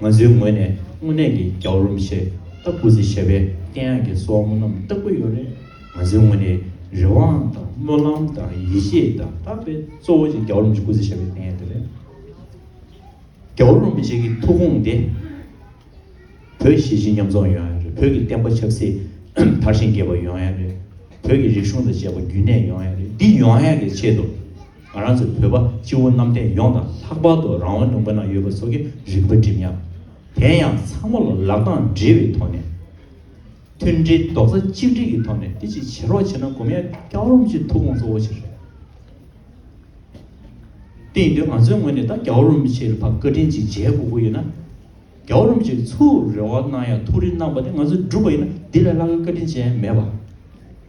ང་ཚོའི་ངོས་ནས་དངོས་གནས་ཀྱི་རྒྱའུ་རུམ་ཞེས་ལྟ་དགོས་ཚེ་བྱ་བའི་དཀྱེལ་ཡངས་ཀྱི་སྲོག་རྔུ་རྣམས་ལྟ་དགོས་ཡོད་རེད། ང་ཚོའི་ངོས་ནས་རེ་བའང་དང་སྨོན་ལམ་དང་ཡིད་ཆེས་དང་དག་པའི་གཙོ་བོ་ཆེ་རྒྱའུ་རུམ་ཞིག་དགོས་ཚེ་བྱ་བའི་དཀྱེལ་ཡངས་དེ་རེད། རྒྱའུ་རུམ་ཞིག་གི་ཐུགས་དགོངས་དེ་བོད་གཞིས་བྱེས་མཉམ་འཛོམས་ཡོང་ཡ་རེད་བོད་ཀྱི་བསྟན་པ་ཆབ་སྲིད་དར་ཞིང་རྒྱས་པ་ཡོང་ཡ་རེད་བོད་ཀྱི་རིག་གཞུང་དང་བཅས་པ་རྒྱུན་གནས་ཡོང་ཡ་རེད་འདི་ཡོང་ཡ་གི་ཆེད་དུ། ང་རང་ཚོ་བོད་པ་སྤྱི་བོ་གནམ་བསྟན་ཡོངས་དང་ལྷག་པར་དུ་རང་དབང་ལུང་པ་ན་ཡོད་པ་ཚོ་གི་རིག་པ་འགྲིམ་ཡང། དེ་ཡང་ཚང་མ་ལ་ལག་གདང་སྦྲེལ་བའི་ཐོག་ནས། མཐུན་སྒྲིལ་རྡོག་རྩ་གཅིག་སྒྲིལ་གྱི་ཐོག་ནས་འདི་ཅིག་བྱེད་རོགས་བྱས་ན་སྒོམ་ཡ་སྐྱག་རོམ་གྱི་ཐུགས་དགོངས་གཙོ་བོ་ཆེ་རེད། དེ་ཡིན་དུས་ང་ཚོའི་ངོས་ནས་ད་སྐྱག་རོམ་ཆེ་ལ་ཕ་བཀའ་དྲིན་ཅིག་མཇལ་དགོས་དགོས་ཡོད་ན། སྐྱག་རོམ་ཅིག་ཚུར་རེ་བ་གནང་ཡ་ཐུགས་རེ་གནང་པ་དེ་ང་ཚོ་སྒྲུབ་པ་ཡིན་ན་དེ་ལས་ལྷག་གི་བཀའ་དྲིན་ཅན་མེད་པ།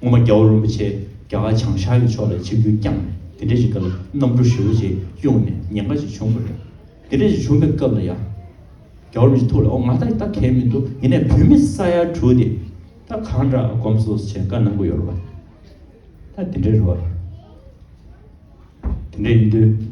སྔོན་མ་རྒྱ་བོད་རིན་པོ་ཆེ་རྒྱ་གར་བྱང་ཤར་གྱི་ཕྱོགས་ལ་ཆིབས་རྒྱུ་རྐྱང་དེ་འདྲ་ཞིག་ག་ལ་གནམ་གྲུ་ཧྲིལ་བོ་ཆེ་གཡུགས་ནས་ཉེན་ཁ་ཞིག་བྱུང་པ་རེད། དེ་འདྲ་ཞིག་བྱུང་པའི་སྐབས་ལ་ཡང་རྒྱ་བོད་རིན་པོ་ཆེ་ཐུགས་ལ་འོ་ང་ད་ལྟ་གལ་མི་འདུག་ཡིན་ནའི་བོད་མི་ས་ཡ་དྲུག་དེ་ད་གང་འདྲ་གོམས་སོ་བྱེད་དཀའ་གནང་གི་ཡོད་རེད་པ་ད་དེ་འདྲ་རེད་བ། དེ་འདྲ་ཡིན་དུས།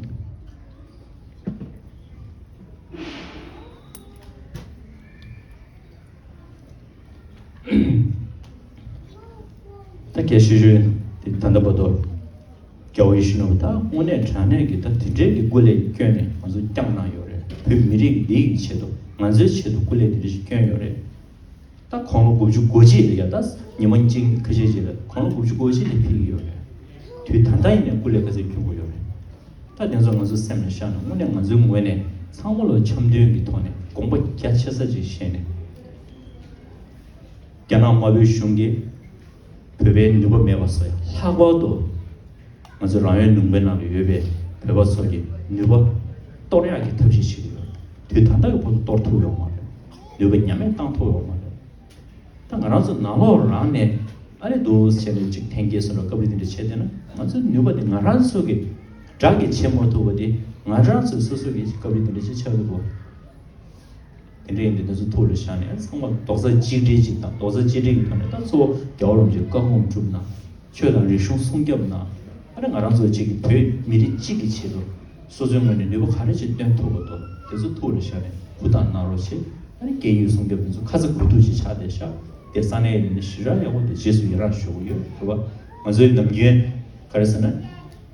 ད་གལ་སྲིད་གཞོན་དེ་ད་ལྟ་བར་དུ་རྒྱ་བོད་ཡུལ་ཕྱི་ནང་དུ་ད་དངོས་གནས་དྲ་གནས་ཀྱི་ད་དེ་འདྲའི་གི་སྐུ་ལས་བསྐྱོན་ནས་ང་ཚོ་བསྐྱངས་གནང་ཡོད་རེད་བོད་མི་རིགས་འདི་ཡི་ཆེད་དུ་ང་ཚོའི་ཆེད་དུ་སྐུ་ལས་དེ་འདྲ་ཞིག་བསྐྱོན་ཡོད་རེད་ད་གོང་ལོ་དགུ་བཅུ་དགུ་བརྗེས་ལ་ཡ་ད་ཉི་མ་གཅིག་ཁ་ཤས་རྗེས་ལ་གོང་ལོ་དགུ་བཅུ་དགུ་བརྗེས་ལ་ཕེབས་ཀྱི་ཡོད་རེད་དུས་ད་ལྟ་ཡིན་ནས་སྐུ་ལས་ག་ཚད་བསྐྱོན་དགོས་ཡོད་རེད་ད་དེ་ཚོ་ང་ཚོ་སེམས་ལ་བཞག་ནས་དངོས་གནས་ང་ཚོའི་ངོས་ནས་ཚང་མ་ལ་འཆམ་མཐུན་གྱི་ཐོག་ནས་དགོངས་པ་རྒྱ་ཆེ་ས་ཅིག་བཞེས་ནས། རྒྱ་ནག་དམར་པོའི་གཞུང་གིས་བོད་པའི་ནུས་པ་མེད་པ་སོགས་ཀྱི་ལྷག་པར་དུ་ང་ཚོའི་རང་ཡོད་ལུང་པའི་ནང་དུ་ཡོད་པའི་བོད་པ་ཚོ་གི་ནུས་པ་གཏོར་ཡག་གི་ཐབས་ཤེས་བྱེད་ཀྱི་ཡོད། དུས་ད་ལྟ་གི་བར་དུ་གཏོར་ཐུབ་ཡོང་མ་རེད། ནུས་པ་ཉམས་མེད་བཏང་ཐུབ་ཡོང་མ་རེད། ད་ང་རང་ཚོ་ནང་ལོག་རང་ནས་ཨ་རེ་འདུག་བྱས་ནས་གཅིག་ཐེངས་བརྒྱད་གསུམ་ལ་སྐབས་རེ་དེ་འདྲ་བྱས་བསྡད་ན་ང་ཚོའི་ནུས་པ་དེ་ང་རང་ཚོ་གི་དགྲ་གིས་བྱེད་མ་ཐུབ་པ་དེ་ང་རང་ཚོས་སོ་སོ་གིས་སྐབས་རེ་དེ་འདྲ་བྱས་ཆགས་ཡོད་དགོས། དེ་འདྲ་ཡིན་དུས་ད་གཟོད་ཐུགས་ལ་བཞག་ནས་ཚང་མ་རྡོག་རྩ་གཅིག་སྒྲིལ་གཅིག་དང་རྡོག་རྩ་གཅིག་སྒྲིལ་གྱི་ཐོག་ནས་ད་གཙོ་བོ་རྒྱ་བོད་རོམ་གྱི་བཀའ་དགོངས་བསྒྲུབ་ན། ཆོས་དང་རིག་གཞུང་སྲུང་སྐྱབས་ན། ཨ་ནི་ང་རང་ཚོ་གཅིག་གི་བོད་མི་རིགས་གཅིག་གི་ཆེད་དུ། སོ་སོའི་ངོས་ནས་ནུས་པ་ག་རེ་ཅིག་སྟོན་ཐུབ་པ་དོ་དེ་ཚོ་ཐུགས་ལ་བཞག་ནས་ཧུར་ཐག་གནང་རོགས་བྱེད་ཨ་ནི་སྐད་ཡིག་སྲུང་སྐྱབས་དེ་ཚོ་ཁ་ཚ་དགོས་གཏུགས་ཅིག་ཆགས་བསྡད་ཤག་དེ་ས་གནས་ཡིན་ན་ཞི་རགས་ཡག་པོ་འདུག་རྗེས་སུ་ཡི་རངས་ཞུ་གི་ཡོད་དེ་བ་ང་ཚོའི་ནམ་རྒྱུན་ག་རེ་ཟེར་ན།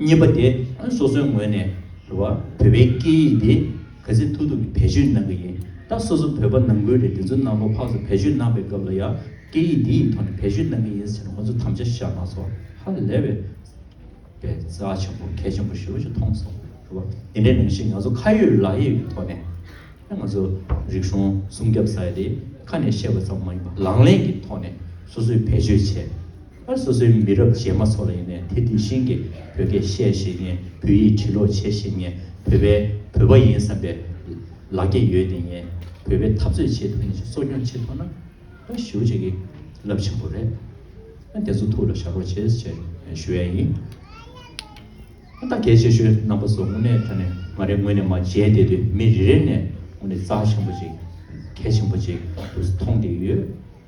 གཉིས་པ་དེ་སོ་སོའི་ངོས་ནས་རེད་བ། བོད་པའི་སྐད་ཡིག་དེ་གལ་སྲིད་ཐུག་ཐུག་གི་བེད་སྤྱོད་གནང་གི་ཡིན་ད་སོ་སོ་བོད་པ་ནང་ཁུལ་རེད་དེ་ཚོའི་ནང་ལོ་ཕག་ཚོ་བེད་སྤྱོད་གནང་པའི་སྐབས་ལ་ཡང་སྐད་ཡིག་འདི་ཡི་ཐོག་ནས་བེད་སྤྱོད་གནང་གི་ཡིན་ཟེར་ནས་ང་ཚོ་དམ་བཅའ་བཞག་གནང་སོང་ཧ་ལས་བས། པའི་རྩ་ཆེན་པོ་གལ་ཆེན་པོ་ཞེ་བོ་ཞིག་མཐོང་སོང་རེད་བ། དེ་འདྲའི་ནང་བཞིན་ང་ཚོ་ཁ་ཡོད་ལག་ཡོད་ཀྱི་ཐོག་ནས། ང་ཚོ་རིག་གཞུང་སྲུང་སྐྱབས་ས་ཡ་དེ་ཁ་ནས་བཤད་པ་ཙམ་མ་ཡིན་པ་ལག་ལེན་གྱི་ཐོག་ནས་སོ་སོས་བེད་སྤྱོད་བྱས། ཨ་སོ་སོའི་མི་རབས་རྗེས་མ་ཚོ་ལ་ཡིན་ནའི་དེ་དེ་བཞིན་གྱི་བོད་སྐད་བཤད་ཤེས་ངེས་བོད་ཡིག་བྲི་ཀློག་བྱེད་ཤེས་ངེས་བོད་པའི་བོད་པ་ཡིན་བསམ་པའི་ལག་སྐྱེས་ཡོད་དེ་ངེས་བོད་པའི་འཐབ་རྩོད་བྱེད་ཐུབ་ངེས་ཞེས་གསོ་སྐྱོང་བྱེད་ཐུབ་ན་ཨ་ཞེ་བོ་བྱེད་ཀྱི་རླབས་ཆེན་པོ་རེད་ཨ་དེ་ཚོ་ཐུགས་ལ་བཞག་རོགས་བྱེད་ཅེས་ཞུ་ཡ་ཡིན་ཨ་ད་གལ་ཆེ་ཤོས་རྣམ་པ་ཚོ་དངོས་གནས་ད་ནས་ང་རེ་ངོས་ནས་མ་མཇལ་བསྡད་དུས་མི་རེ་རེ་ནས་དངོས་གནས་རྩ་ཆེན་པོ་ཅིག་གལ་ཆེན་པོ་ཅིག་ཏུ་མཐོང་བསྡད་ཡོད་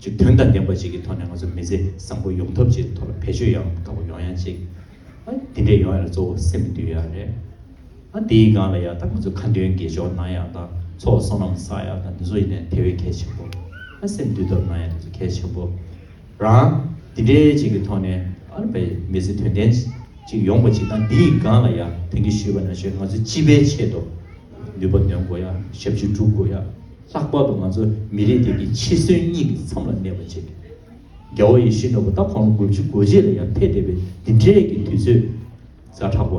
ཀྱི་དོན་དང་ལྡན་པ་ཞིག་གི་ཐོག་ནས་ང་ཚོ་མི་ཚེ་བཟང་པོ་ཡོང་ཐབས་ཀྱི་ཐོག་ལ་བེད་སྤྱོད་ཡང་དག་པ་ཡོང་ཡ་གཅིག་དེ་འདྲས་ཡོང་ཡ་ལ་གཙོ་བོ་སེམས་འདུལ་ཡ་རེད། དེའི་སྒང་ལ་ཡང་དག་ང་ཚོ་ཁ་འདོན་དགེ་སྦྱོར་གནང་ཡ་དང་ཚོགས་བསོག་ནམ་བསགས་ཡ་དང་འདི་ཚོ་ཡིན་ནའི་དེ་བས་གལ་ཆེན་པོ། སེམས་འདུལ་ཐབས་གནང་ཡ་དེ་ཚོ་གལ་ཆེན་པོ། རང་དེ་འདྲས་ཅིག་གི་ཐོག་ནས་མི་ཚེ་དོན་ལྡན་ཅིག་ཡོང་པ་ཅིག་དང་འདིའི་སྒང་ལ་ཡང་དེང་གི་ཞུས་པ་ན་ཞུས་ང་ཚོ་སྤྱི་པའི་ཆེད་དུ་ནུས་པ་འདོན་དགོ་ཡ་ཞབས་ཕྱི་སྒྲུབ་དགོ་ཡ། ལྷག་པར་དུ་ང་ཚོ་མི་རིགས་དེ་གི་འཆི་གསོན་གཉིས་ཀྱི་མཚམས་ལ་གནས་པ་བྱས། རྒྱལ་བོ་ཡེ་ཤེས་ནོར་བུ་ད་གོང་ལོ་དགུ་བཅུ་དགུ་བརྗེས་ལ་ཡར་འཕེལ་བསྡད་པའི་འདི་འདྲའི་གི་དུས་ཚོད། རྫ་དྲག་པོ།